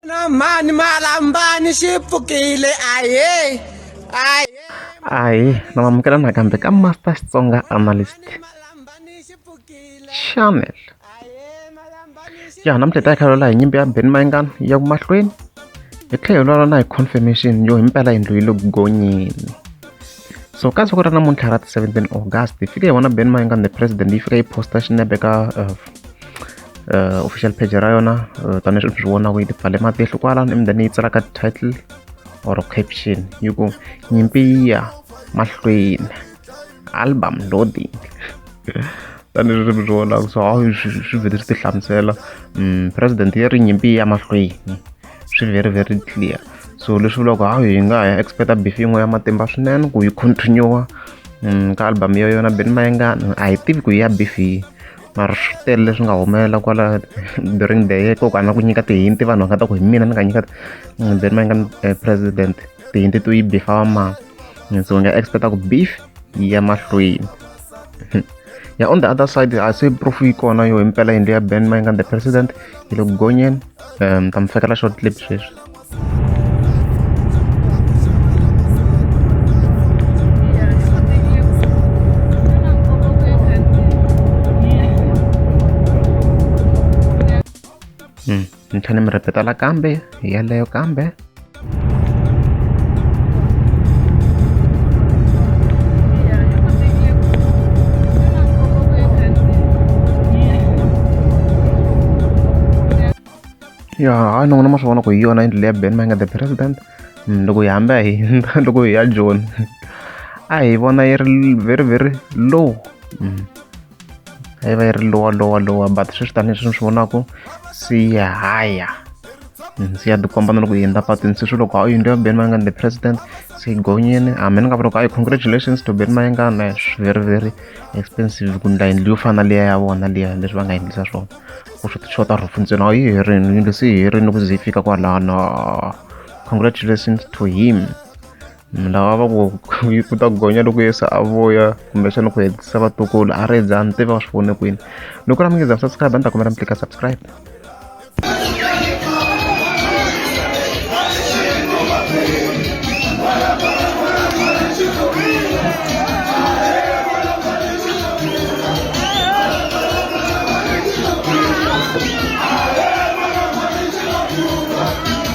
na mhani malambani xi pfukile ahe ahe ahe na mamukela nakambe ka master xitsonga analyst channel ya namuntlha hi ta yi khalwela hi nyimpi ya ben mayingana ya ku mahlweni hi tlhela hi lwala na hi confirmation yo himpela yindlu yi le ku gonyeni so ka siku ra namuntlha ra 17 august hi fike hi vona ben mayengani the president yi fika yi posta xinepe ka uh, uh, official page ra yona uh, tanihileswi mi swi vonaka yi tipfale matihlo kwalano emundani yi tsalaka title or caption yi ku nyimpi yi ya mahlweni album loading tanihileswi mi swi vonaka so hawu swi vhele swi ti hlamusela mm, president yi ri nyimpi ya mahlweni swi very very clear so leswi vulaka hawu hi nga ha ya expecta beef yin'we ya matimba swinene ku yi continue um ka album ya yona beni mayengana a hi tivi ku yi ya beef yi mara swi tele leswi nga humelela kwala during the year koko a na ku nyika tihinti vanhu va nga ta ku hi mina ni nga nyika mm, beni mayengana eh, president tihinti to yi bifa wa mani so hi nga expecta ku beef yi ya mahlweni ya on the other side a se proof yi kona yo impela yindlu ya ben ma yi nga the president yi le ku gonyeni um ta mi fekela short clip sweswi Mm. ni tlhela mi repeta la kambe yeleyo kambe ya hayi ni vona ma swi vona ku hi yona yindlu leya ben manga the president mm, loko hi hamba hi loko hi ya joni a hi vona yi ri very very low mm. yi va yi ri lowa lowa lowa but sweswi tanihileswi ni swi vonaka se yi haya ndzi ya tikomba na loko yi hundza patwini se swi loko a yindlu ya ben mayengani the president se yi gonyeni hambi ni nga va loko a yi congratulations to ben mayengani very very expensive ku ndla yindlu yo fana liya ya vona liya leswi va nga endlisa swona ku swi tixota rhufu ntsena a yi herini yindlu se yi herini ku ze yi fika kwalano congratulations to him lava va ku ku ta gonya loko yesu a vuya kumbexana ku hetisa vatukulu a ri bya ni tiva va swi vone kwini loko ra mi nge za subscribe a ni ta kombela mi tlika subscribe